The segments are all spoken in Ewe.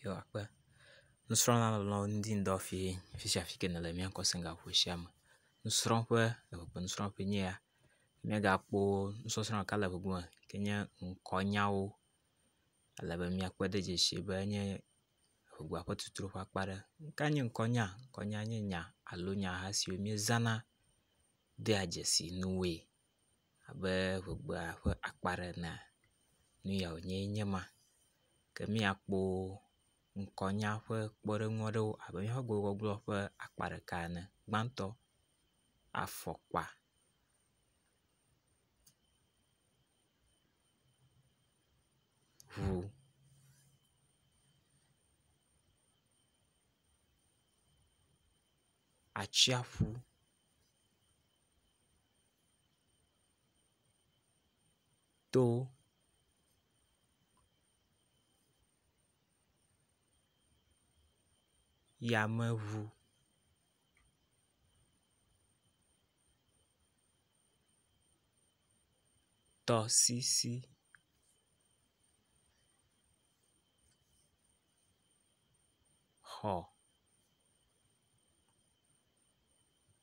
yewoakpe. Nusrɔ̃la le nɔ ŋdi ŋdɔ fiẽ afi sia afi si ke nèle míakɔ se ga xɔa sia me. Nusrɔ̃ƒe le ƒe nusrɔ̃ƒe nye ya. Míagakpɔ nusɔsrɔ̃ ɖeka le ŋgɔ yike nye ŋkɔnyawo. Ele be míakpɔe ɖe edzi si be enye ŋkɔ ƒe tutu ƒe akpa aɖe. Nuka nye ŋkɔnya? Ŋkɔnya nye nya alo nyaha siwo míezana dea dzesi nuwoe. abe ŋegbea ƒe akpa ɖe enea, nu ya wònye nye ma. Ke míakpɔ ŋkɔnya ƒe kpɔɖeŋu aɖewo abe míaƒe gbegbɔgblɔ ƒe akpa ɖeka ene. Gbãtɔ, afɔkpa. Ŋu. Atsiaƒu. to yameʋu tɔsisi xɔ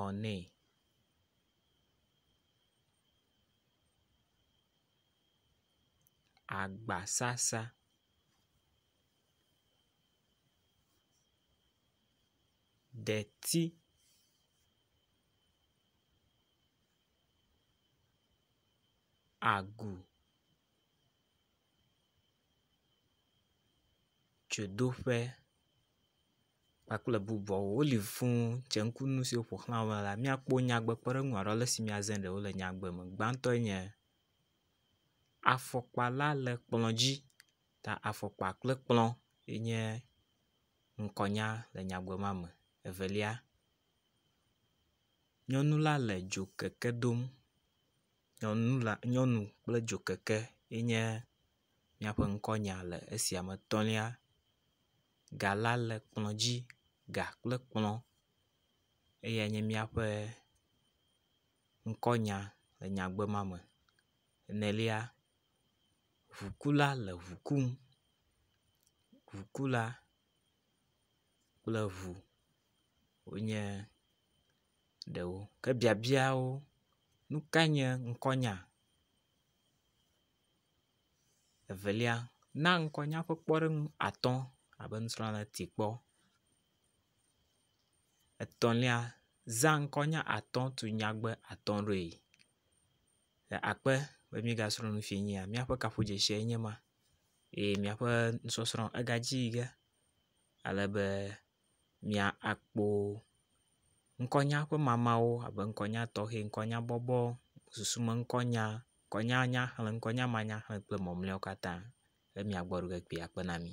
ɔ nɛ. Agbasasa. Ɖeti. Agu. dzodoƒe kpakple bubuawo woli fuu dze ŋku nu siwo ƒo xlã wo la míakpɔ nyadzɔdzɔgbalẽsime woaɖo ale si míaze ɖe wo le nyagbe me. Gbãtɔe nye afɔkpa la le kplɔ̃ dzi ta afɔkpa kple kplɔ̃ ye nye ŋkɔnya le nyagbe ma me. Evelia, nyɔnu la le dzokeke dom. Nyɔnu la nyɔnu kple dzokeke ye nye míaƒe ŋkɔnya le esia me tɔ̃lia. Ga la le kplɔ dzi. Ga kple kplɔ eyae nye míaƒe ŋkɔnya le nyagbe ma me. Enelia ŋukula le ŋu kum. Ŋukula kple ŋu. wonye ɖewo. Ke biabiawo, nu kae nye ŋkɔnya? Evelia, na ŋkɔnya ƒe kpɔɖeŋu atɔ abe nusrɔ̃la ti kpɔ. Etɔ̃lia, zã ŋkɔnya atɔ tu nyagbe atɔ ɖoe. Le akpe be mígasrɔ̃ nu fiẽ nyia, míaƒe kaƒodzesie nye ma eye míaƒe nusɔsrɔ̃ egadzi yi ge ale be. mia akpo ŋkɔnya ƒe mamawo abe ŋkɔnya tɔxɛ, ŋkɔnya bɔbɔ, susu me ŋkɔnya, ŋkɔnya nyaxlẽ, ŋkɔnya manyaxlẽ kple mamleawo katã be mia gbɔ ɖe ɖe kpɔa akpe na mi.